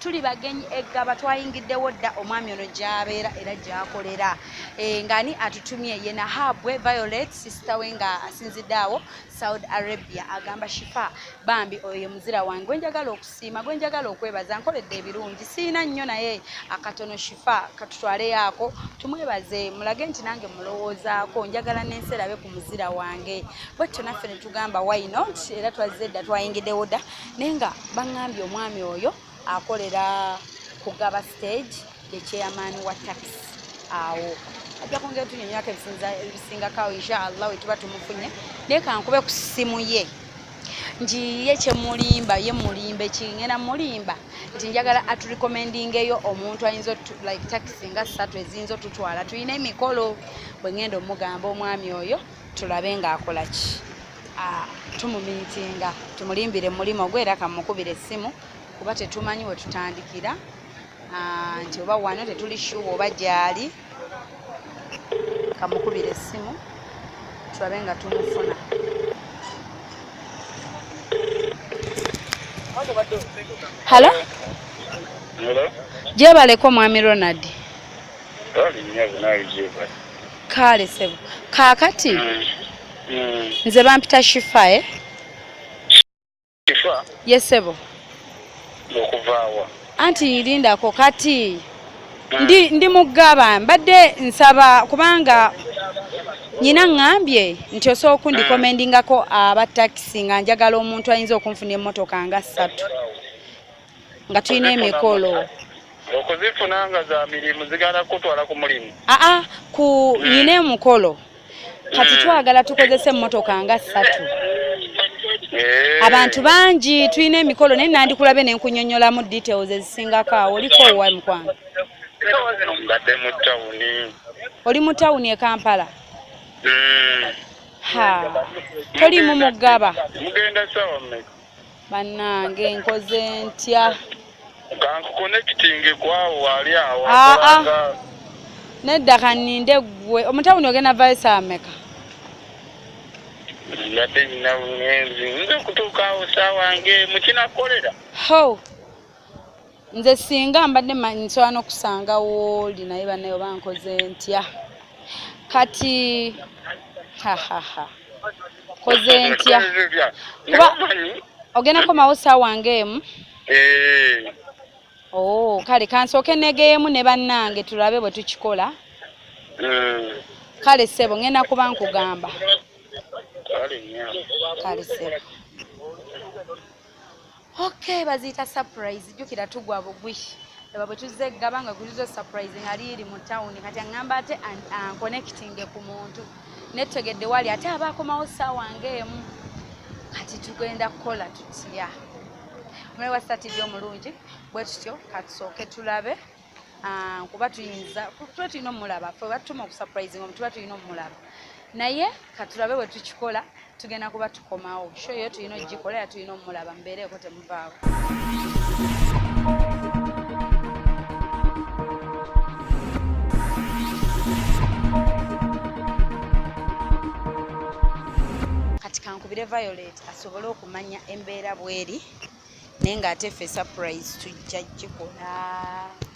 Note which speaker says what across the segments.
Speaker 1: tuli bagenyi eggaba twayingiddewo dda omwami ono gyabeera era gyakolera eh, ng'ani atutumye ye nahabwe violet sisita we nga asinzidde awo saudi arabia agamba shifa bambi oyo ye muzira wange gwe njagala okusiima gwe njagala okwebaza nkoledde ebirungi siina nnyo naye akatono shifa katutwaleyo ako tumwebaze mulage nti nange mulowoozaako njagala n'ensi erabe ku muzira wange bwetyo naffe ne tugamba why not era twazze dda twayingiddewo dda naye nga baŋŋambye omwami oyo akolera kugaba stage ye chairman wa taxi awo ajja kwongera tunyonyako ebisingakawo inshallah wetuba tumufunye naye kankube ku ssimu ye nti ye kyemulimba ye mulimba ekingenda mulimba nti njagala aturecommendingeyo omuntu ayinza like taxi nga ssatu eziyinza otutwala tulina emikolo bwengenda omugamba omwami oyo tulabe ngaakolaki ah, tumumiitinga tumulimbire mulimu ogwo era kamukubira essimu kuba tetumanyi we tutandikira ah, nti oba wano tetuli shuwa oba gyali kamukubira essimu tulabe nga tumufuna halo
Speaker 2: gyebaleko
Speaker 1: mwami ronald kaale sebo kaakati mm. mm. nze bampita shifa e shifa
Speaker 2: ye sebo okuvaawa anti
Speaker 1: yirindako kati mm. ndi, ndi mugaba mbadde nsaba kubanga nyina ŋŋambye nti osobola okundikomendingako aba takisi nga njagala omuntu ayinza okunfuna emmotoka nga ssatu nga tulina emikolo okuzifuna
Speaker 2: nga za mirimu zigala kutwala ku mulimu aa ah, ah, ku hmm.
Speaker 1: nyina emukolo kati hmm. twagala tukozese emmotoka nga ssatu eh. abantu bangi tulina emikolo naye nandikulabe ne nkunyonyolamu details ezisingako awo oliko owa mukwano
Speaker 2: mbadde mu tawuni oli mu tawuni
Speaker 1: e kampala hmm. ha tolimu mugaba mugenda sawa
Speaker 2: mmeka bannange
Speaker 1: nkoze ntya
Speaker 2: kankukonekitinge kwawo wali awo ah, ah. nedda
Speaker 1: kaninde gwe omutawuni ogenda vaisa ameka
Speaker 2: yadde nyina bugenzi nze okutuukaawo saawa nge mukinakolera ho
Speaker 1: nze singa mbadde manyi nsobola n'okusanga wooli naye banaye oba nkoze ntya kati hahaha koze ntya kuba ogenda komawo saawa ngaemu eh. oo oh, kale kansooke negeemu ne bannange tulabe bwe tukikola hmm. kale ssebo ngenda kuba nkugamba kale ssebo okay baziyita surprise jjukira tugwa bugwi laba bwe tuzze eggaba nga gulizo surprise nga liiri mu tawuni kati aŋŋamba ate ankonekitinge ku muntu netegedde wali ate aba akomawo ssaawa ng'emu kati tugenda kukola tutya omulayi wa satidi omulungi bwe tutyo katusooke tulabe ah, kuba tuyinza tuba tulina omulaba fe batutuma okusurprising omu tuba tulina omulaba naye katulabe bwe tukikola tugenda kuba tukomawo sho yo tulina okugikola era tulina omulaba mubeereeko temuvaawo kankubire violet asobole okumanya embeera bweri naye ng'ate ffe surprise tujja gikola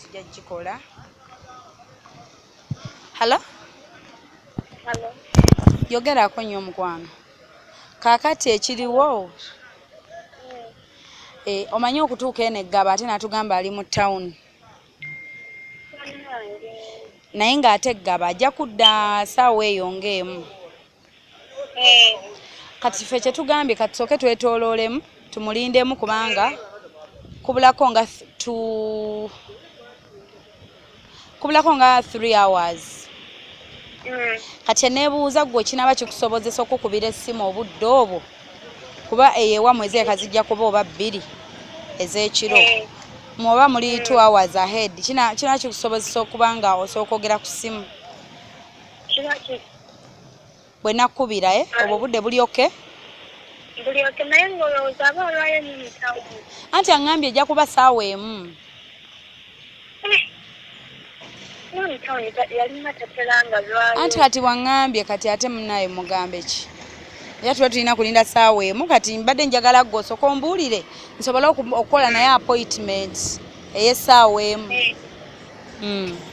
Speaker 1: tujja gikola hallo yogerako nnyo omukwano kaakati ekiriwo eh, omanyi okutuuka eno eggaba ate natugamba ali mu town naye ng'ate eggaba ajja kudda saawa eyo ng'emu eh. kati fe kyetugambye kati soke twetololemu tumulindemu kubanga kubulako nga tu kubulako nga three hours mm. kati enebuuza gwe kinaba kikusobozesa okukubira essimu obudde obwo kuba eyewa mwezi eka zijja kuba oba bbiri ez'ekiro eh. mwoba muli mm. two hours ahead kina kikusobozesa okuba nga osooka ogera ku ssimu bwe nakubira eh? obwo budde buli oke buli oke
Speaker 3: naye
Speaker 1: ng'olowooza
Speaker 3: aba olwayo
Speaker 1: nyo mutawo anti
Speaker 3: aŋŋambye ejja
Speaker 1: kuba
Speaker 3: saawa emu eh, anti kati waŋŋambye
Speaker 1: kati ate munaye mugambe ki era tuba tulina kulinda saawa emu kati mbadde njagala gwe osooka ombuulire nsobole okukola naye appointment ey'essaawa emu eh. hmm.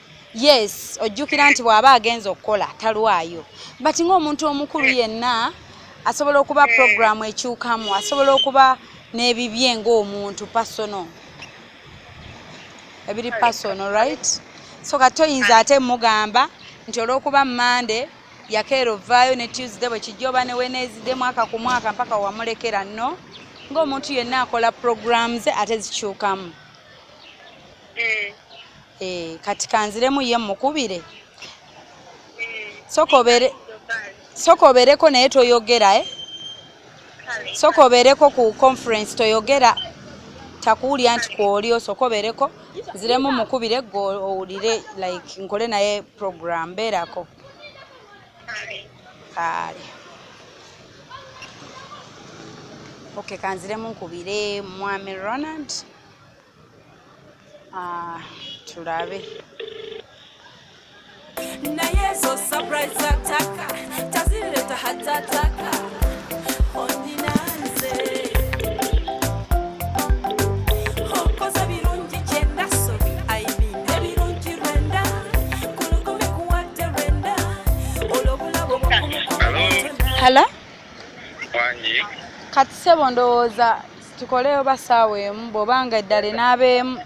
Speaker 1: yes ojjukira nti bw'aba agenza okukola talwayo but ng'omuntu omukulu yenna asobola okuba puroguramu ekyukamu asobola okuba n'ebibye ng'omuntu pasono ebiri pasono right so kati toyinza ate mugamba nti olw'okuba mande yakeera ovaayo ne tuesday bwe kijja oba ne weneezide mwaka ku mwaka mpaka wamulekera no ng'omuntu yenna akola puroguramu ze ate zikyukamu mm. Eh, kati kanziremu ye mukubire sokobere sokobereko naye toyogera eh? sokobereko ku conference toyogera takuwulira nti kwoli osokobereko nziremu mukubire gwe owulire like nkole naye program beerako kale okay kanziremu nkubire mwami ronald Ah, tulabe
Speaker 4: naye ezo surprise zataka tazireta hatataka Hello? Kati
Speaker 1: sebo ndowooza tukole oba saawa emu bwoba nga eddala
Speaker 2: enaaba emu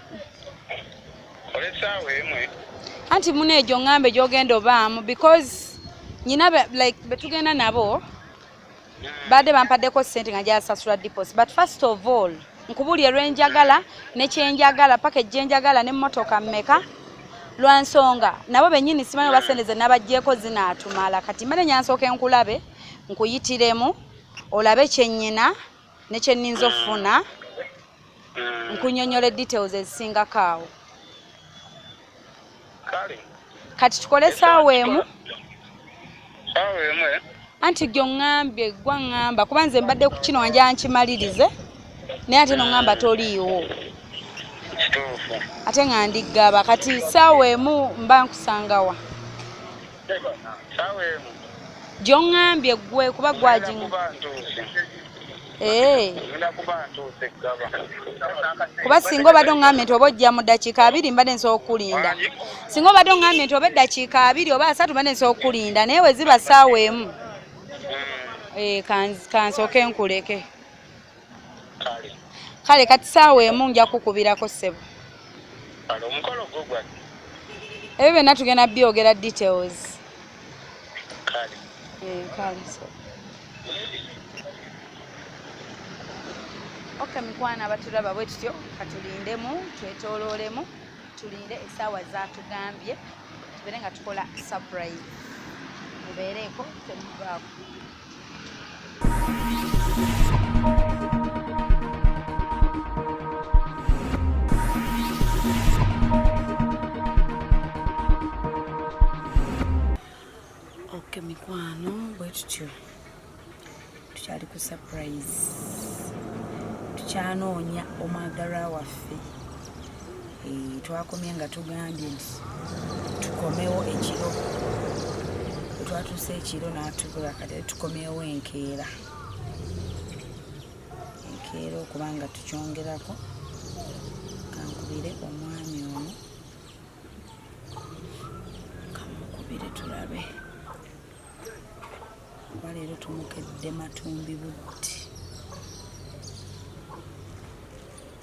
Speaker 2: anti muna egyo
Speaker 1: ngambe gyogenda obaamu because nyina like betugenda nabo hmm. baadde bampaddeko sente nga gyasasula dipos but first of all nkubulye lwenjagala nekyenjagala paka ejjenjagala nemotoka mmeka lwansonga nabo benyini simanyi oba sente ze nabajjeeko zinaatumala kati mane nyansooka enkulabe nkuyitiremu olabe kyenyina ne kye nninza okufuna mm. nkunyonyola details ezisingako awo kati tukole esaawa emu
Speaker 2: eh? anti gyo
Speaker 1: ŋŋambye gwa ŋŋamba kuba nze mbadde ku kino wanja nkimalirize naye ate no ŋŋamba toliiwo
Speaker 2: ate nga
Speaker 1: ndiggaba kati saawa emu mba nkusangawa
Speaker 2: gyongambye
Speaker 1: gwe kuba gwaji eh. kuba singa obadde ongambye nti oba ojja mu ddakiika abiri mbadde nsobola okukulinda singa obadde ongambye nti oba eddakiika abiri oba asatu mbadde nsobola okukulinda naye weziba saawa emu hmm. eh, kansooke nkuleke kale kati saawa emu nja kukubirako ssebo
Speaker 2: ebyo
Speaker 1: byonna tugenda byogera details
Speaker 2: kale eh,
Speaker 1: kale sebo ok mikwana abatulaba bwe tutyo katulindemu twetoloolemu tulinde esaawa zatugambye tubeere nga tukola surprise mubeereeko temuvaako Okay, mikwano bwe tutyo tukyali ku surprise tukyanoonya omwagalwa waffe eh, twakomye nga tugambye nti tukomewo ekiro twatuuse ekiro natubula kati tukomewo enkeera enkeera okuba nga tukyongerako kankubire omwami ono kamukubire tulabe kuba leero tumukedde matumbi budde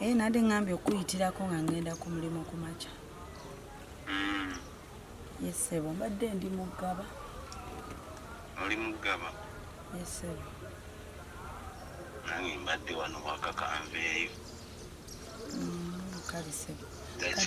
Speaker 1: Ee, nade ngambye okuyitirako nga ngenda ku mulimu ku makya. Mm. Yes, sebo. Mbadde ndi mu ggaba.
Speaker 5: Oli mu ggaba? Yes, sebo.
Speaker 1: Nange
Speaker 5: mbadde wano wakaka nveeyo.
Speaker 1: Mm, kale sebo. Kati,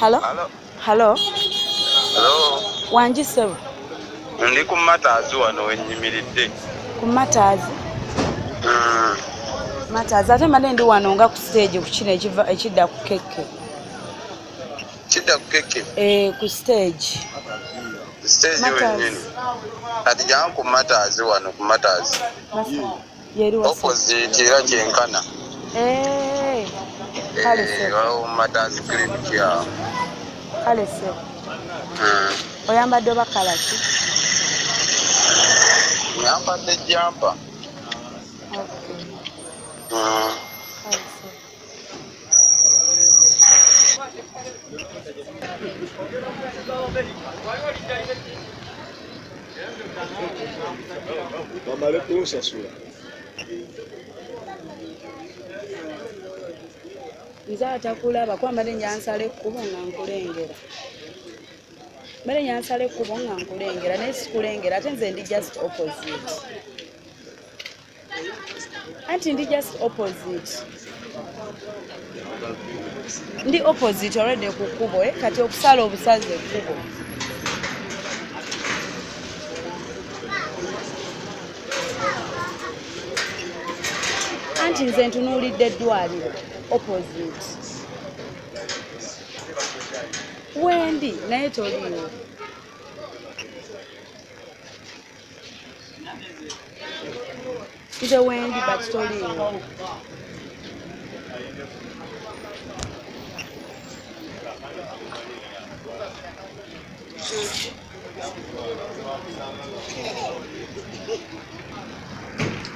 Speaker 1: Hello? Hello? Hello?
Speaker 5: Hello? Wangi sebo?
Speaker 1: Ndi ku
Speaker 5: mataazi wano wenyimiridde. Ku mataazi?
Speaker 1: Mm. Mataazi ate mbadde ndi wano nga ku stage ku kino ekidda ku kekke.
Speaker 5: Kidda ku kekke? Eh, ku stage. Stage
Speaker 1: wenyini.
Speaker 5: Kati jangu ku mataazi wano ku mataazi. Mataazi.
Speaker 1: opposite era
Speaker 5: kyenkana eh,
Speaker 1: eh, matters
Speaker 5: clinic yawo kale
Speaker 1: sebo hmm. oyambadde oba kalaki
Speaker 5: nyambadde jampa
Speaker 1: hmm.
Speaker 6: Bamale kunsasula.
Speaker 1: nze atakulaba kuba mbadde njansala ekkubo nga nkulengera mbadde njansala ekkubo nga nkulengera naye sikulengera ate nze ndi just opposite anti ndi just opposite ndi opposite already ku kkubo eh? kati okusala obusazi ekkubo anti nze ntunuulidde eddwaliro opposite wendi naye toliwo Nze wendi but toliiwo.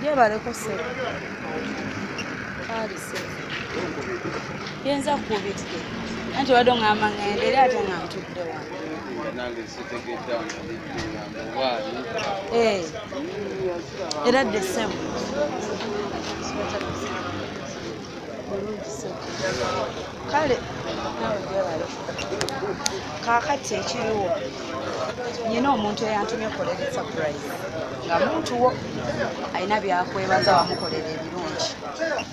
Speaker 1: Yebaleko ssebo. Kaali ssebo. Yenza kuubitike. Anti wadde ong'amba ng'ende era ate nga ntudde wano.
Speaker 6: Eh.
Speaker 1: era dde ssebo kale kakati ekiriwo nyina omuntu eyantumye okukolera esapurayizi nga muntu wo alina byakwebaza wamukolera ebirungi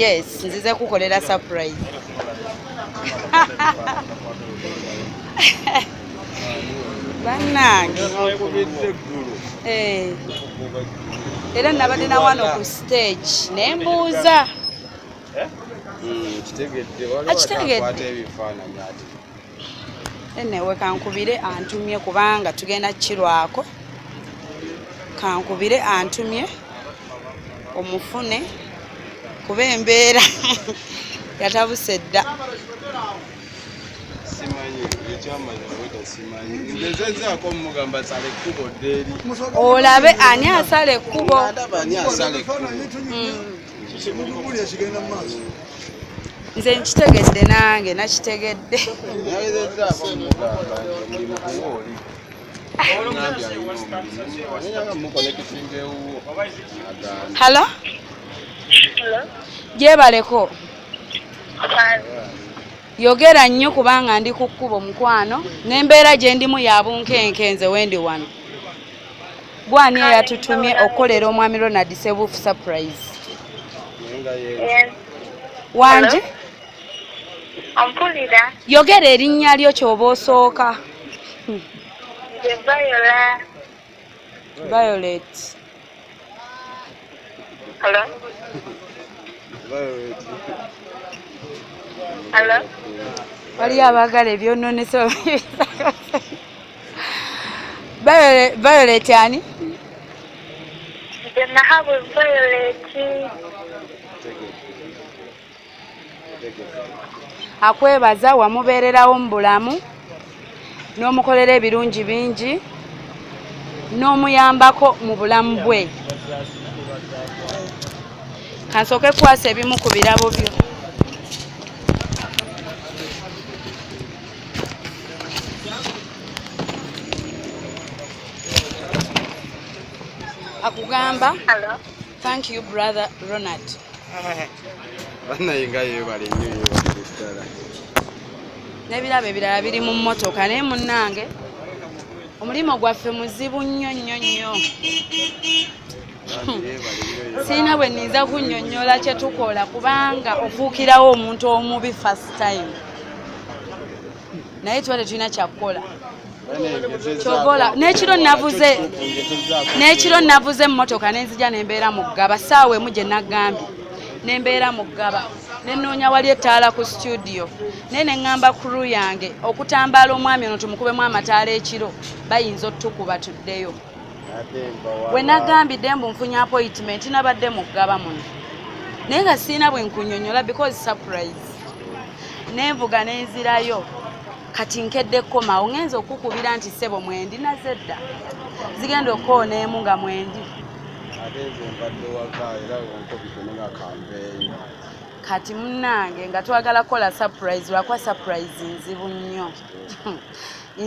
Speaker 1: yes nzize kukolera surprise bannange eh. era nabadde na wano ku stage ne mbuuza eh?
Speaker 6: hmm, akitegedde
Speaker 1: enewe kankubire antumye kubanga tugenda kirwako kankubire antumye omufune kuba embeera yatabuse dda
Speaker 6: olabe
Speaker 1: ani asala ekkubo nze nkitegedde nange nakitegedde
Speaker 6: halo
Speaker 3: gyebaleko
Speaker 1: yogera nnyo kubanga ndi ku kkubo mukwano n'embeera gye ndimu ya bunkenke nze wendi wano gwani eyatutumye okukolera omwami ronald sebuufu surprise
Speaker 3: wangi yogera erinnya
Speaker 1: lyo kyoba osooka violet
Speaker 3: waliyo
Speaker 1: abaagala ebyononese Violet ani? Nze
Speaker 3: nahabwe Violet.
Speaker 1: Akwebaza wamubeererawo mu bulamu n'omukolera ebirungi bingi n'omuyambako mu bulamu bwe. Kansooke kukwasa ebimu ku birabo byo. akugamba
Speaker 3: thank you
Speaker 1: brother ronald
Speaker 6: banayenga yebale nyo yebaddala
Speaker 1: nebirabo ebirala biri mu mmotoka naye munnange omulimu gwaffe muzibu nnyo nnyo nnyo sirina bwe ninza kunnyonnyola kye tukola kubanga ofuukirawo omuntu omubi first time naye tuba tetulina kyakukola kyogola nekiro navuze nekiro navuze emmotoka nenzija nembeera mu ggaba saawa emu gye nagambye nembeera mu ggaba nenoonya wali ettaala ku situdiyo naye neŋŋamba kuru yange okutambaala omwami ono tumukubemu amataala ekiro bayinza otukuba tuddeyo we nagambidde mbu nfunye appointment nabadde mu ggaba muno naye nga sirina bwe nkunyonyola because surprise nenvuga nenzirayo kati nkedde kukomawo ngenza okukubira nti sebo mwendi naze dda zigenda okukoona emu nga mwendi
Speaker 6: kati
Speaker 1: munange nga twagala kukola surprise lwakuba surprise nzibu nnyo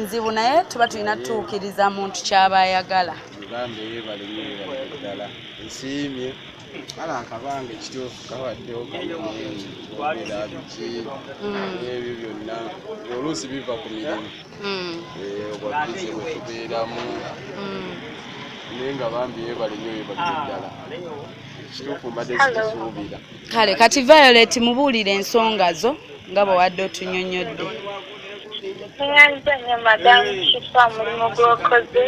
Speaker 1: nzibu naye tuba tulina tutuukiriza muntu kyaba ayagala uganda
Speaker 6: yebalinyeebaddala nsiimye ala akabanga ekituufu kabaddewo kamueerabiki n'ebyo mm. byonna oluusi biva ku mirimu mm. eh, obwabize bwetubeeramu mm. naye nga bambi yebalinyeebaddala ekituufu mbadde zikisuubira ah, kale kati
Speaker 1: violet mubuulire ensonga zo nga bwe wadde otunyonyodde
Speaker 3: eyanza nyo madamu kifa omulimu gwokoze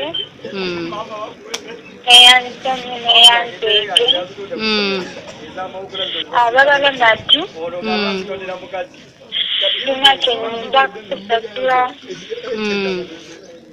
Speaker 3: eyanza nyo neyanza ege abalala nati sina kyenyinza kusasula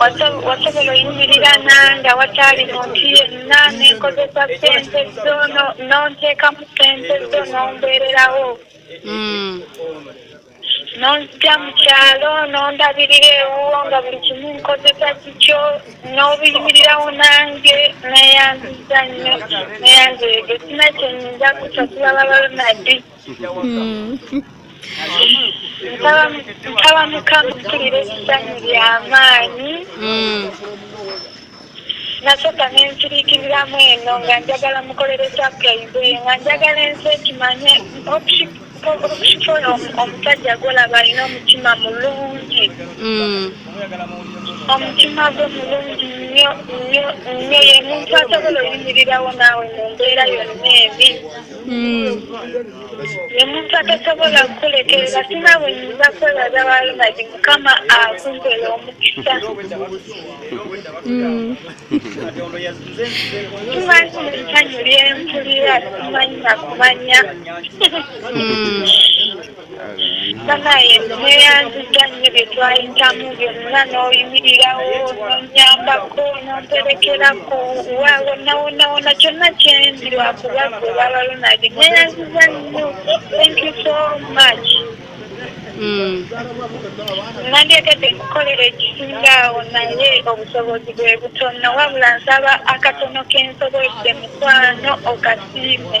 Speaker 3: wasobola oyimirira nanga wataali muntu yenna nenkozesa sente zo nonteekamu sente zo nombeererawo mm. nonzija mu kyalo nondabirira ewuwo nga buli kimu nkozesa kikyo n'obiyimirirawo nange neyanziza nnyo neyanzeyege sina kyenyinza kusa kulaba balonadi mm. nsaba mukama mpulira ebisanyu byamaanyi hmm. nasooka nensirikiriramu eno nga njagala mukolere sapurayizi eyo nga njagala ensi ekimanye okukikola omusajja gwolaba alina omutima mulungi hmm. omutima gwe mulungi nnyo nnyo nnyo ye muntu asobola oyimirirawo naawe mu mbeera yonna ebi Hmm. omuntu atasobola kukulekerera sina bwenyinza kwebaza balumagi mukama akumpera omukisa tumanyi hmm. mulisanyu lyempulira tumanyi nakumanya hmm. banaye neyanziza nnyo bye twayitamu byonna n'oyimirirawo nonyambako nomperekerako wawonawonawona kyonna kyendi lwakuba gwe baba lunadi neyanziza nnyo thank you so much hmm. nandyetedde nkukolera ekisinga awo naye obusobozi bwe butono wabula nsaba akatono kensobodde mukwano okasiime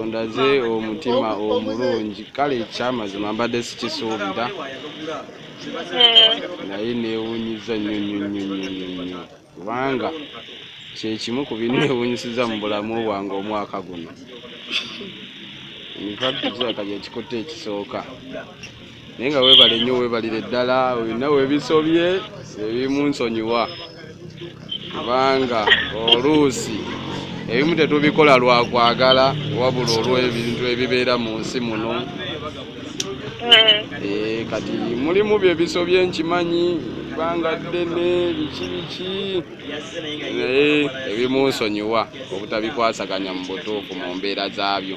Speaker 3: ondaze
Speaker 6: omutima omulungi kale ekyamazima mbadde sikisuubira eh. naye newunyiza nnyo nnyo nnyo nnyo nnyo nnyo kubanga kyekimu ku binneewunyisiza mu bulamu bwange omwaka guno nfakti kizakali ekikutte ekisooka naye nga webale nnyo webalire ddala olina webisobye ebimu nsonyiwa kubanga oluusi ebimu tetubikola lwakwagala wabula olw'ebintu ebibeera mu nsi muno eh. Eh, kati mulimu byebisobye nkimanyi ebbanga ddene biki biki naye ebimunsonyiwa obutabikwasaganya mu butuufu mu mbeera zaabyo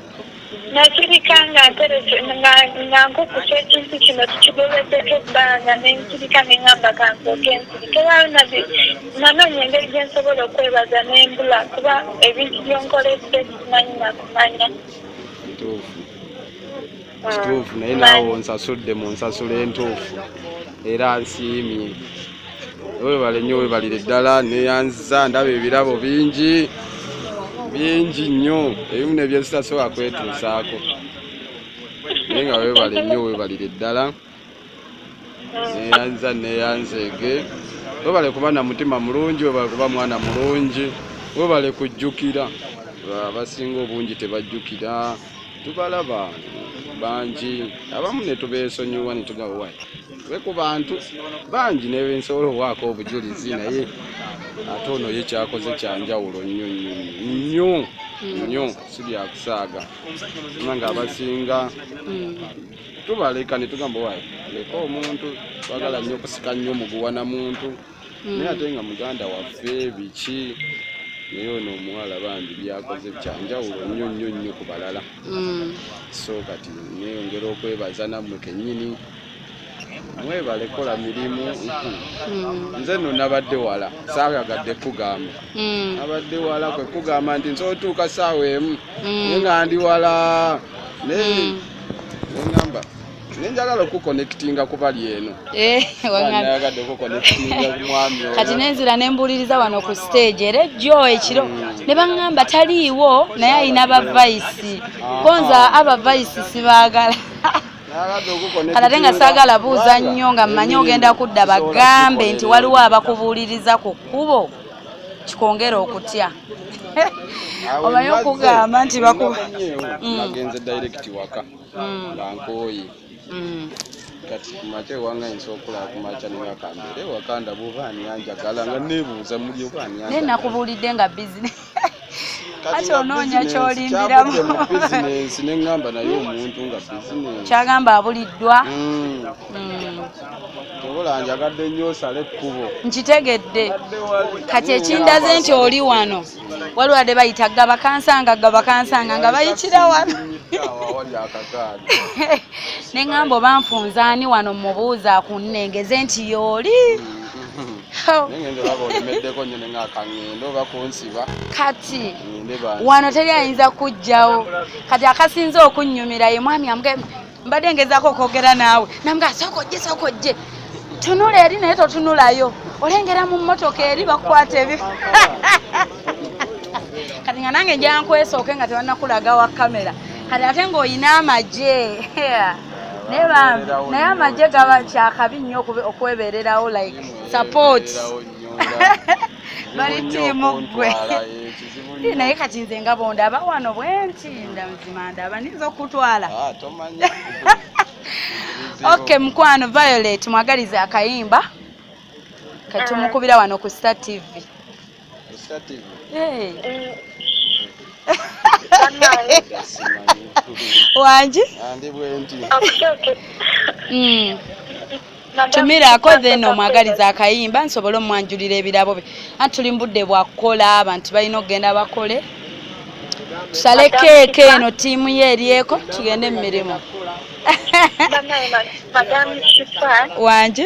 Speaker 3: nakirika nga ntereke nga nga nkukusa ekintu kino tukigobeddeko ebbanga ne nkirika ne ŋŋamba kansooke nsirike waayo nabbi nanoonya engeri gye nsobola okwebaza ne mbula kuba ebintu by'onkoledde simanyi na kumanya ntuufu
Speaker 6: kituufu naye naawe onsasudde mu nsasula entuufu era nsiimye webale nnyo webalire ddala neyanziza ndaba ebirabo bingi bingi nnyo ebimu nebyensitasooka kwetuusaako naye nga webale nnyo webalire ddala neyanza neyanzeege webale kuba na mutima mulungi webale kuba mwana mulungi webale kujjukira abasinga obungi tebajjukira tubalaba bangi abamu netubeesonyiwa netugawa we ku bantu bangi nebensobola owaako obujulizi naye ate ono ye kyakoze kyanjawulo nnyo nnyo nnyo nnyo si byakusaaga nga abasinga hmm. tubaleka netugamba wa leka omuntu twagala nnyo okusika nnyo muguwa na muntu hmm. naye ate nga muganda waffe biki naye ono omuwala bambi byakoze byanjawulo nnyo nnyo nnyo ku balala hmm. so kati neyongera okwebaza nammwe kennyini mwebale kola mirimu hmm. nze no nabadde wala saayagadde kugamba abadde wala kwe kugamba nti nsotuuka saawa emu nga ndi wala naye nengamba nenjagala okukonectinga kubali eno eh, nayagadde okukonectinga kumwami kati nenzira nembuuliriza
Speaker 1: wano ku stage era ejjo ekiro hmm. ne baŋŋamba taliiwo naye alina bavayisi konza abavayisi sibaagala ate nga saagala buuza nnyo nga mmanyi ogenda kudda bagambe nti waliwo abakubuuliriza ku kkubo kikwongera okutya omanyi okugamba nti bakuba mm.
Speaker 6: nagenze direct waka mm. nga nkooye mm. kati kumakya ewanga yinza okulaba kumakya newakambere wakanda buba ani anjagala nga nebuuza muli oba ani naye nakubuulidde nga
Speaker 1: bizinesi kati onoonya kyolimbiramu
Speaker 6: neŋamba naye omuntu nga bizinesi kyagamba abuliddwa
Speaker 1: hmm. Hmm.
Speaker 6: obola njagadde nnyo osale ekkubo nkitegedde
Speaker 1: kati ekindaze nti oli wano waliwo ade bayita gabakansanga gabakansanga nga bayitira wano neŋamba oba nfunzaani wano mubuuza kunnengeze nti yooli hmm.
Speaker 6: kati
Speaker 1: wano
Speaker 6: teri ayinza
Speaker 1: kujjawo kati akasinze okunnyumira ye mwami amuge mbadde ngezaako okwogera naawe namuga sooka ojje sooka ojje tunula eri naye totunulayo olengera mu mmotoka eri bakukwata ebi kati nga nange njankwesooke nga tebanakulaga wa kamera kati ate ng'olina amagye naye bambi naye amagye gaba kyakabi nnyo okwebererawo like support bali tiimu ggwe eh, naye kati nze nga bondaba wano bwenti ndamuzima ndaba ninza okutwala ah, ok mukwano violet mwagaliza akayimba katumukubira wano ku star tv wangi
Speaker 6: hmm.
Speaker 1: tumiraako then omwagaliza akayimba nsobole omwanjulira ebirabo bye anti tuli mubudde bwakukola abantu balina okugenda bakole tusale keeka eno tiimu ye eryeko tugende mu mirimu
Speaker 3: wangi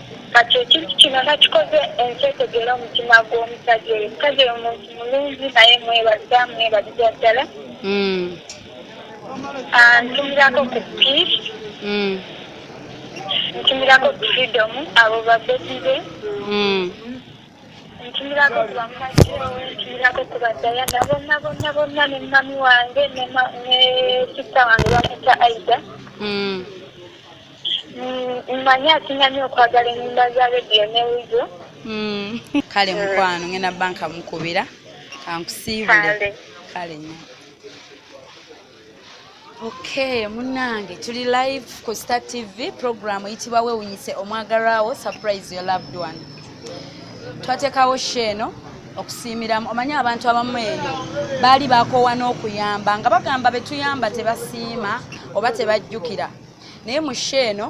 Speaker 3: Kati ekintu kino nakikoze ensi etegeere omutima gw'omusajja oyo. Omusajja oyo muntu mulungi naye mwebaza mwebaza ddala. Hmm. Ah, ntumirako ku peace. Hmm. Ntumirako ku freedom abo babeti be. Hmm. Ntumirako ku bamajjo, ntumirako ku badayana bonna bonna bonna ne mami wange ne sister wange bamuta Aida. Mm, mmanyi asingamye okwagala ennyimba za rediyo ne wizo mm.
Speaker 1: kale mm. mukwano ngenda banka mukubira kankusiibule kale nyo okay munange tuli live ku star tv program eyitibwa wewunyise omwagalwawo surprise your loved one twateekawo sho eno okusiimiramu omanyi abantu abamu eyo baali bakoowa n'okuyamba nga bagamba betuyamba tebasiima oba tebajjukira naye mu sho eno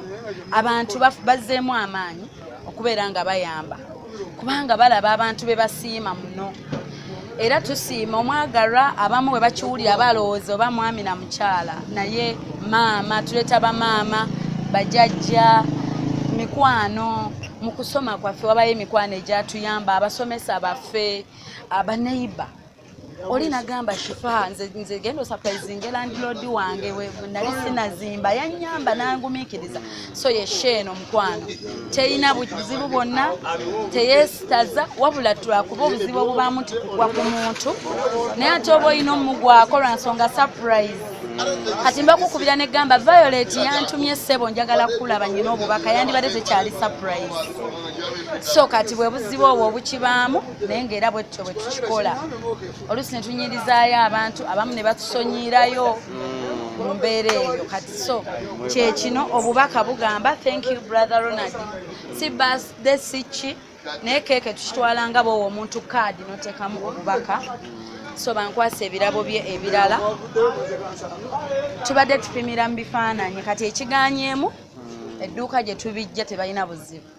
Speaker 1: abantu bazzeemu amaanyi okubeera nga bayamba kubanga balaba abantu be basiima muno era tusiima omwagalwa abamu bwe bakiwulira balowooza oba mwami na mukyala naye maama tuleeta bamaama bajajja mikwano mu kusoma kwaffe wabayo emikwano egyatuyamba abasomesa baffe abaneiba oli nagamba shifa nze nze gendo surprising landlord wange we nali sinazimba yanyamba nangumikiriza so ye sheno mkwano teyina buzibu bonna teyesitaza wabula twakuba obuzibu obubamu tikugwa ku muntu naye ate oba olina omugwako lwa nsonga surprise kati mbakukubira negamba violet yantumye sebo njagala kukulaba nyina obubaka yandibadde tekyali surprise so kati bwebuzibu obwo obukibaamu naye ngaera bwetutyo bwetukikola oluusi netunyirizaayo abantu abamu ne batusonyiirayo mu mbeera eyo kati so kyekino obubaka bugamba thank you brother ronald si basde si ki naye keeke tukitwala nga bwowa omuntu kaadi notekamu obubaka so bankwasa ebirabo bye ebirala tubadde tupimira mu bifaananyi kati ekiganyeemu edduuka gye tubijja tebalina buzibu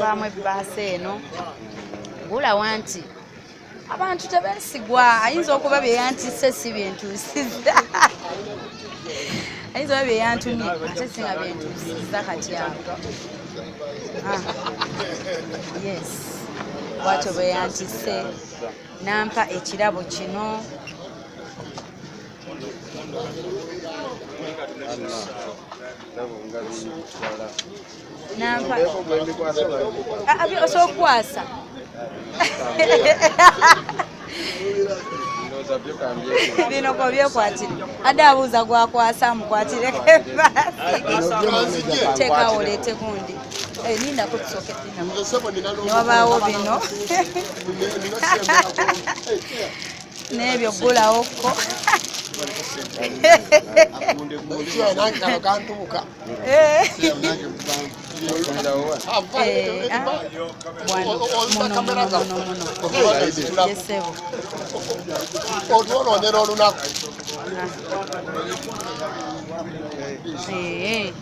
Speaker 1: baamu ebbaasa eno gula wanti abantu tebesigwa ayinza okuba byeyantise si byentusiza ayinza oba byeyantumye ate singa byentusiza kati awo ah. yes bwatyo bweyantise nampa ekirabo kino nampa osobola okukwasa bino ko byekwatire ade abuuza gwakwasa mukwatire tekawo oleete gundi eh, nindako tusoke newabaawo bino n'ebyo ggulawo ko Eh. otwolondera olunaku eh,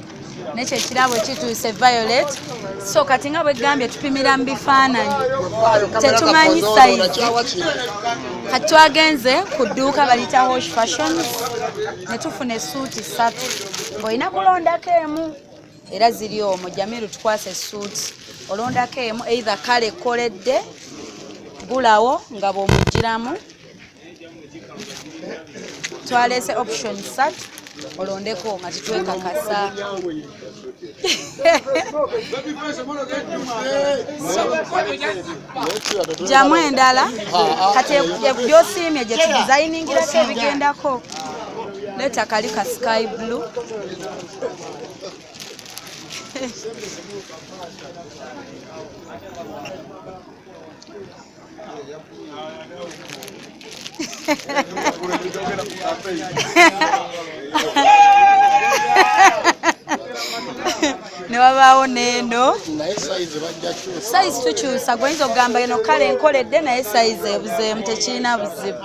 Speaker 1: nekyo ekirabo kituuse violet so kati nga bwegambye tupimira mu bifaananyi tetumanyi sayizi kati twagenze ku dduuka balita hosh fashion netufuna esuuti satu ng'olina kulondako emu era ziri omwo jamiru tukwasa esuuti olondako emu eitha kale koledde gulawo nga bwomugiramu twalese option satu olondeko nga titwekakasa jamu endala kati gyosiimye gye tudizayiningirako ebigendako leeta kali ka sky blue ne wabaawo neeno sayizi tukyusa gwenyinza okugamba eno kale enkoledde naye sayizi ebuzeemu tekirina buzibu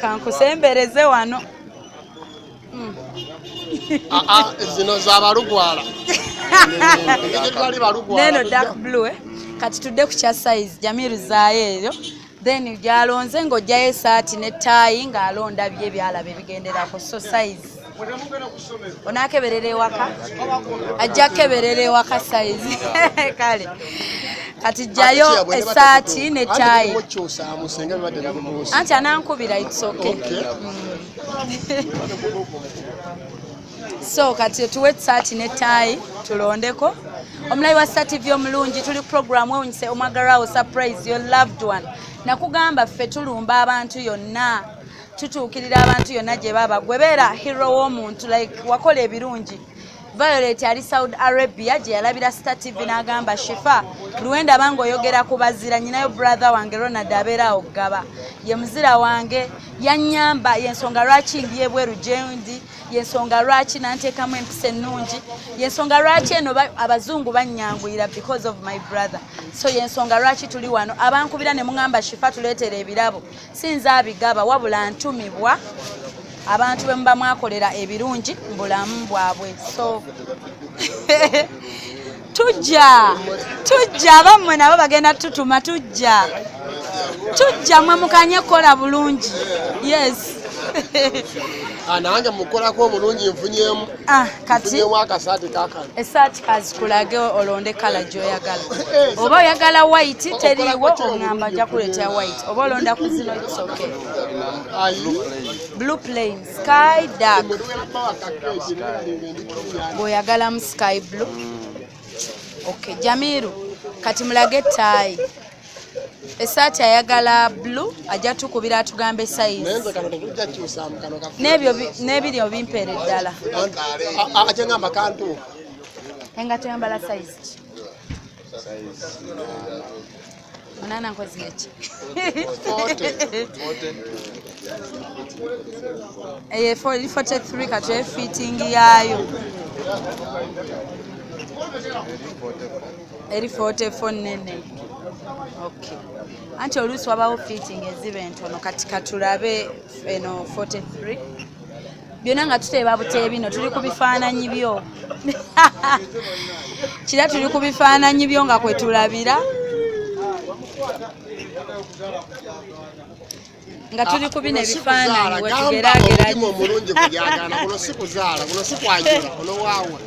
Speaker 1: kankusembereze wano hmm.
Speaker 7: ah, ah, zino zabalugwala
Speaker 1: neno dark blue eh? kati tudde ku kya size jamiru zaayo eyo then gyalonze ng'ojjayo esaati ne taayi ng'alonda bye byalaba ebigenderako so size onakeberera ewaka ajja keberera ewaka sayizi kale kati jjayo esaati ne tayi anti anankubira itsoke so kati tuwe esaati ne tayi tulondeko omulayi wa sa tv omulungi tuli programu ewunyise omwagarawo surprise your loved one nakugamba ffe tulumba abantu yonna tutuukirira abantu yonna gye baba gwe beera hero w'omuntu like wakola ebirungi violet ali saudi arabia gye yalabira star tv n'agamba shifa luwenda abanga oyogera ku bazira nyinayo brother wange ronald abeera awo gaba ye muzira wange yanyamba yensonga lwaki ndi ebweru gyendi yensonga lwaki nanteekamu empisa ennungi yensonga lwaki eno abazungu banyanguyira because of my brother so yensonga lwaki tuli wano abankubira ne muŋamba shifa tuleetera ebirabo sinza abigaba wabula ntumibwa abantu bwe muba mwakolera ebirungi mu bulamu bwabwe so tujja tujja abammwe nabo bagenda tutuma tujja tujja mwe mukanye kukola bulungi yes ah,
Speaker 7: nange mukolako obulungi nfunyemu Ah, kati esaati kazikulage
Speaker 1: olonde kala gyoyagala eh, oba oyagala white teriiwo oŋamba ajja kuleetera white oba olonda ku zino isoke blue plain sky dark bweoyagalamu sky blue ok jamiru kati mulage ettaayi esaati ayagala blu ajja tukubira atugamba esayizi n'ebiri obimpeera eddala
Speaker 7: enga
Speaker 1: toyambala sayizi ki munana nkozi eki eye 43 katwefitingi yaayo eri 44 nene okay anti oluusi wabawo fitting eziba entono kati katulabe eno 43 byona nga tuteeba butee bino tuli ku bifaananyi byo kira tuli ku bifaananyi byo nga kwetulabira nga tuli ah, ku bino ebifaananyi wetugeraageranya omulungi kubyagaana
Speaker 7: kuno si kuzaala kuno si kwanjula kuno waawa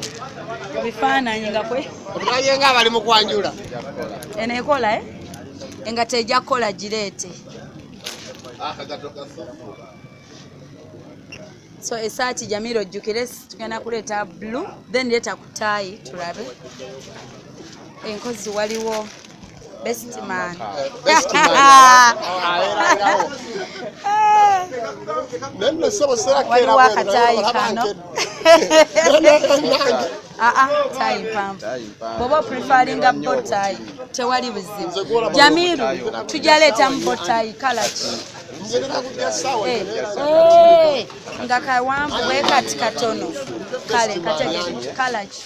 Speaker 7: ebifaananyi
Speaker 1: nga kwe obulaye nga abali mu
Speaker 7: kwanjula eno
Speaker 1: ekola e eh? nga tejja kukola gireete ah, so esaati jamira ojjukire tugenda kuleeta blue then leeta ku taayi tulabe enkozi waliwo bestman waliwo akataayi kano aa ah, ah, tayi mpanvu bwoba oprefaringa botayi tewali buzibu jamiru tujaleetamu botayi kalaki nga kawanvu bwe kati katono kale kategekalaki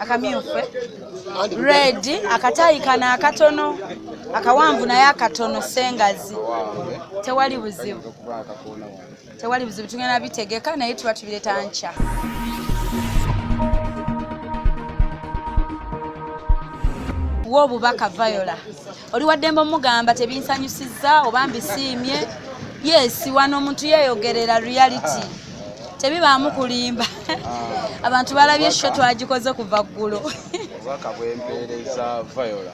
Speaker 1: akamyufu eh? red akataayi kano akatono akawanvu naye akatono sengazi tewali buzibu tewali bizibu tugenda bitegeka naye tuba tubireta nkya wa obubaka viola oli waddembe omugamba tebinsanyusizza oba mbisiimye yes wano omuntu yeyogerera reality tebibaamu kulimba ah. abantu balabye sho twagikoze kuva ggulo obubaka
Speaker 6: bwempeereza viola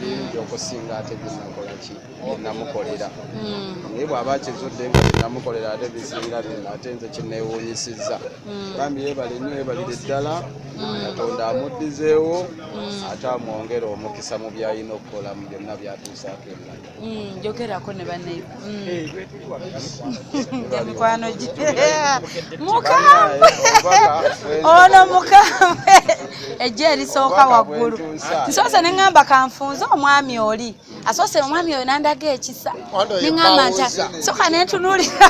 Speaker 6: bingi okusinga ate binakola ki binamukolera hmm. naye bw'aba akizudde nga binamukolera ate bisinga bino ate nze kineewuunyisizza hmm. bambi yebale nnyo yebalire ddala hmm. katonda amuddizeewo ate amwongere omukisa mu byalina okukola mu byonna byatuusaako engalo njogerako ne
Speaker 1: banaye emikwano gye mukambwe ono mukambwe ejja erisooka waggulu nsoose ne ŋŋamba kanfunze omwami oli asoose omwami oyo nandaga ekisa neŋamba nti soka nentunuulira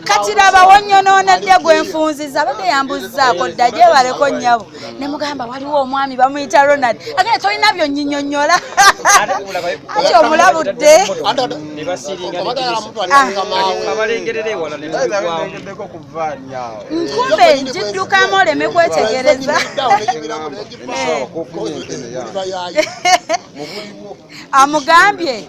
Speaker 1: kati laba wonyonoonedde gwe nfunziza abadde yambuzizaako dda gyebaleko nnyabo ne mugamba waliwo omwami bamuyita ronald agenda tolina byonyinyonyola ati omulabudde nkumbe njiddukamu oleme kwetegereza amugambye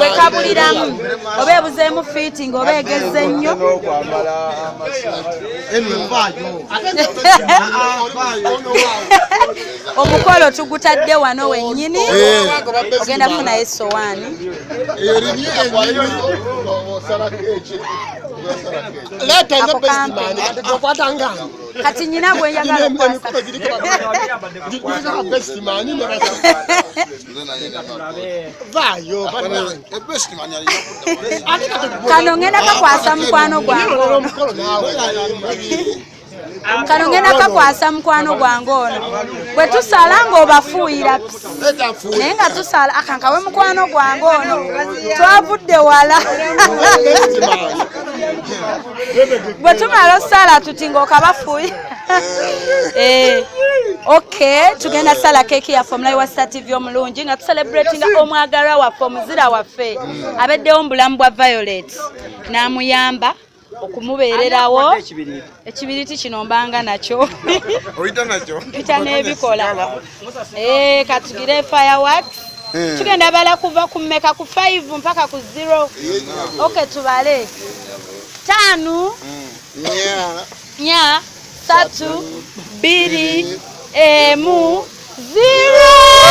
Speaker 1: wekabuliramu oba ebuzeemu fiiting oba egezze nnyo omukolo tugutadde wano wennyini ogenda kufunayo esowaani leeta nze besimaani okwata nga kati nyina gwe njagala okukwasa kano ngenda kakwasa mukwano gwange kano ngenda kakwasa mukwano gwange ono bwe tusala ng'obafuuyira naye nga tusala akankawe mukwano gwange ono twavudde wala bwe tumala osaala tuti ngaokabafuyi eh, ok tugenda sala keeki yaffe omulayi wa star tv omulungi nga tucelebratinga omwagalwa waffe omuzira waffe abeddewo mu bulamu bwa violet n'amuyamba okumubeererawo ekibiriti kino mbanga nakyo oyita nakyo mpita n'ebikola Eh, katugire fireworks eh. tugenda bala kuva ku meka ku 5 mpaka ku 0 okay tubale tano nya nya tatu biri emu 0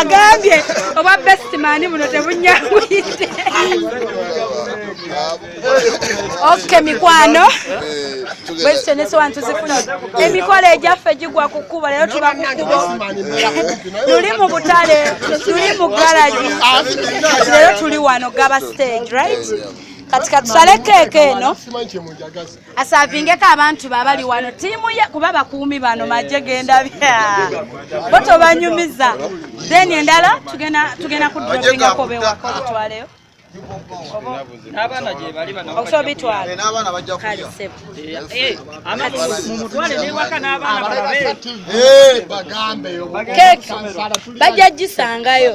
Speaker 1: agambye oba bestimani buno tebunyanguyidde ok mikwano bwezitenesewa ntuzifuna emikolo egyaffe gigwa ku kkubo leero tuba ku kkubo tuli mu butale tuli mu garagi leero tuli wano gaba stage right kati katusale keeke eno asavingeko abantu babali wano tiimu ye kuba bakuumi bano maje genda bo tobanyumiza then endala tugenda kudropingako bewako bitwaleyo bajja gisangayo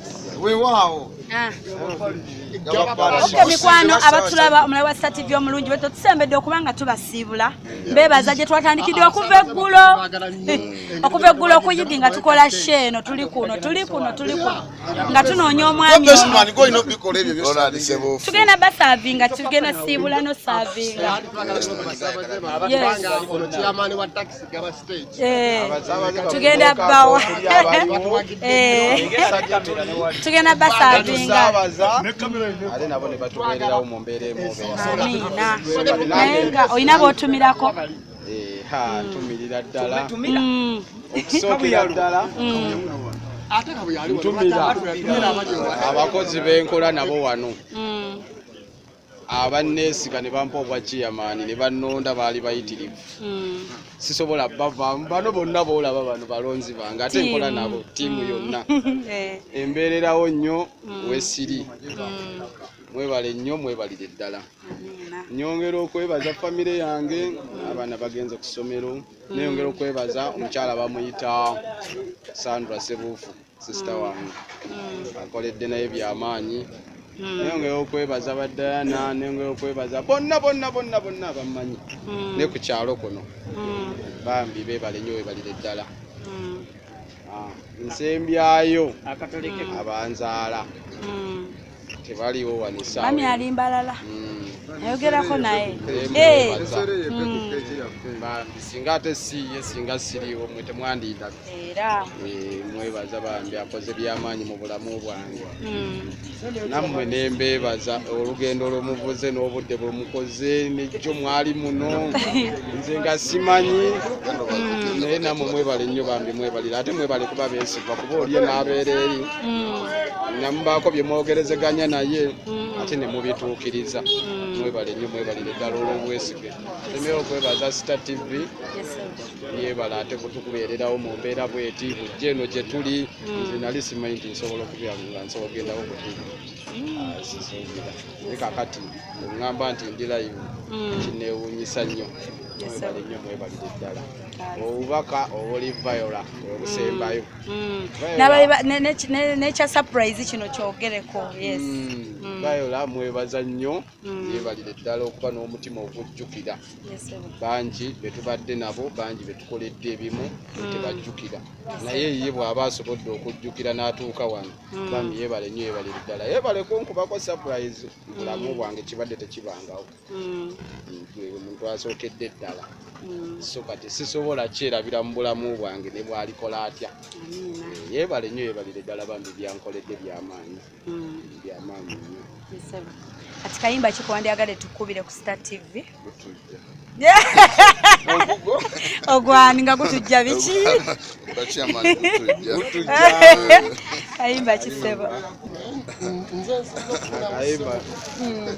Speaker 7: wewaawo ah. oke
Speaker 1: mikwano abatulaba omulabe wa sita tv omulungi bwe tetusembedde okuba nga tubasiibula mbebaza gye twatandikidde okuva eggulo okuva eggulo okuyidi nga tukola she eno tuli kuno tuli kuno tuli kuno nga tunoonya omwami tugenda basaavinga tugenda siibula nosaavinga Eh, tugenda bawa eh, tugenda
Speaker 6: basaabingaaminga
Speaker 1: olina botumirako eh,
Speaker 6: ntumirira ddala mm. okusookera ddala mm. ntumira abakozi benkola nabo wano mm. abanneesiga ne bampa obwa ciyamaani ne bannonda baali bayitirivu hmm. sisobola bavaamu bano bonna boolaba bano balonzi bange ate nkola nabo ttiimu yonna eh. embeererawo nnyo hmm. wesiri hmm. mwebale nnyo mwebalire ddala nyongera okwebaza famire yange abaana bagenze ku ssomero neyongera okwebaza omukyala bamuyita sandra sebuufu sisita mm. wange mm. akoledde naye byamaanyi mm. naye nga eyokwebaza badayana nenga eyokwebaza bonna bonna bonna bonna abammanyi ne ku kyalo kuno bambi bebale nyo webalire ddala ah, nsembyayo abanzaala tebaliwo wanisa mami ali mbalala
Speaker 1: mm. ayogerako naye eh.
Speaker 6: mm. singa ate siye singa siriwo mwe temwandiida era eh,
Speaker 1: mwebaza
Speaker 6: bambi akoze byamaanyi mu bulamu bwange mm. nammwe nembeebaza olugendo lwomuvuze n'obudde bwemukoze nejjo mwali muno nze nga simanyi naye nammwe mwebale nnyo bambi mwebalira ate mwebale kuba besigwa kuba olye n'abeera eri nga mubaako bye mwogerezeganya naye mm. ate ne mubituukiriza mm. mwebale nnyo mwebalire ddala olw'obwesige emera okwebaza sita tv yebala ate kutukubeererawo mu mbeera bweti bujja eno gye tuli mm. nze nali simanyi nti nsobola okubyalunga nsobola ogendawo bwetuli sizuubira naye kakati ngamba nti ndi layivu kineewunyisa nnyo mwebale nnyo mwebalire ddala obubaka obuli viola obusembayo Mm.
Speaker 1: nekya surprise kino kyogereko yes mm. Mm. bayola
Speaker 6: mwebaza nnyo yebalire ddala okuba n'omutima ogujjukira bangi betubadde nabo bangi betukoledde ebimu tebajjukira naye ye bw'aba asobodde okujjukira n'atuuka wano bami yebale nnyo yebalire ddala yebaleko nkubako surprise bulamu bwange kibadde tekibangawo mm. omuntu asookedde ddala mm. so kati sisobola kyerabira mu bulamu bwange ne bwalikola atya eh, yebale nnyo yebalire ddala bambi byankoledde byamaanyi mm. byamaanyi nnyo
Speaker 1: kati kayimba kikuwandyagale tukubire ku star tv ogwani nga gutujja biki kayimba kisebo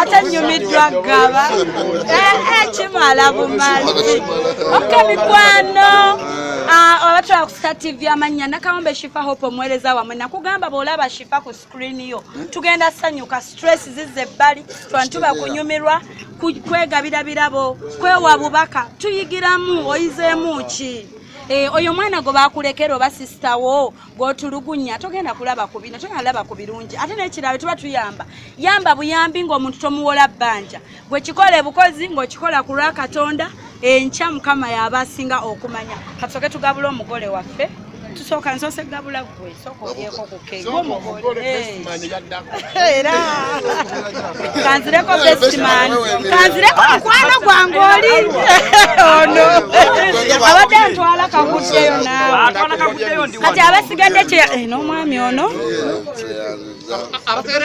Speaker 1: ate nyumiddwa gaba eh, eh, kimala bumala ok mikwano abatwala ah, ku star tv amannya nakawombe shifa hope omuweereza wamwe nakugamba bwolaba shifa ku screen yo tugenda sanyuka stress zize ebbali twantuba kunyumirwa kwegabira birabo kwewa bubaka tuyigiramu oyizeemu ki eh, oyo mwana gwe bakulekera oba sisita wo gwotulugunya togenda kulaba ku bino togenda laba ku birungi ate nekirala tuba tuyamba yamba buyambi ng'omuntu tomuwola bbanja gwe kikola ebukozi ng'okikola ku lwa katonda enkya mukama yaaba asinga okumanya katusoke tugabula omugole waffe tusooka nsoose gabula gwe sooka olyeko ku kegwe omugole era kanzireko bestman kanzireko mukwano gwange oli ono abadde antwala kakuddeyo naawe kati abasigadde kye eh, n'omwami ono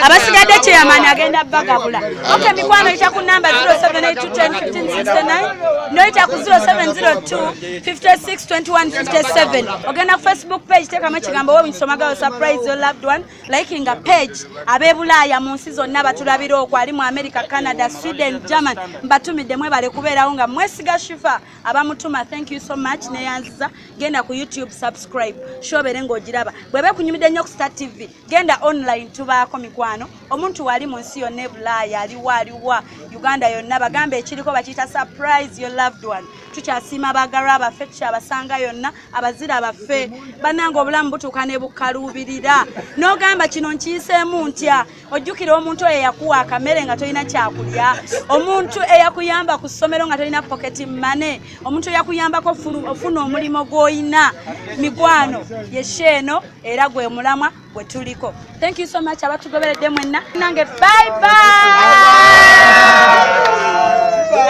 Speaker 1: abasigadde kyeyamaani agenda bagabula oke mikwano yita ku namba 0782101569 noyita ku 0702 562157 ogenda ku facebook page tekamu ekigambo webunsomagawo surprise your loved one likinga page abebulaaya mu nsi zonna batulabira okwo ali mu america canada sweden german mbatumidde mwebale kubeerawo nga mwesiga shifa abamutuma thank you so much neyanziza genda ku youtube subscribe shobere ngaogiraba bweba ekunyumidde nnyo ku star tv genda online tubaako mikwano omuntu wali mu nsi yonna ebulaaya aliwa aliwa uganda yonna bagamba ekiriko bakiyita surprise your loved one tukyasiima bagalwa baffe tukyabasanga yonna abazira baffe bannanga obulamu butuuka ne bukaluubirira n'ogamba kino nkiyiseemu ntya ojjukira omuntu oyo eyakuwa akamere nga tolina kyakulya omuntu eyakuyamba ku ssomero nga tolina pocket mane omuntu eyakuyambako ofuna omulimu gw'olina mikwano yesheeno era gwe mulamwa gwe tuliko thank you so much abatugoberedde mwenna nange bye bye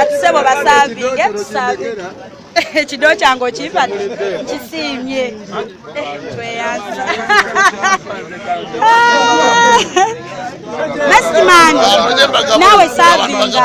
Speaker 1: atusebo basavinge tusavinge ekido kyange okimpa kisiimye eh, tweyanza Best man. Nawe savinga.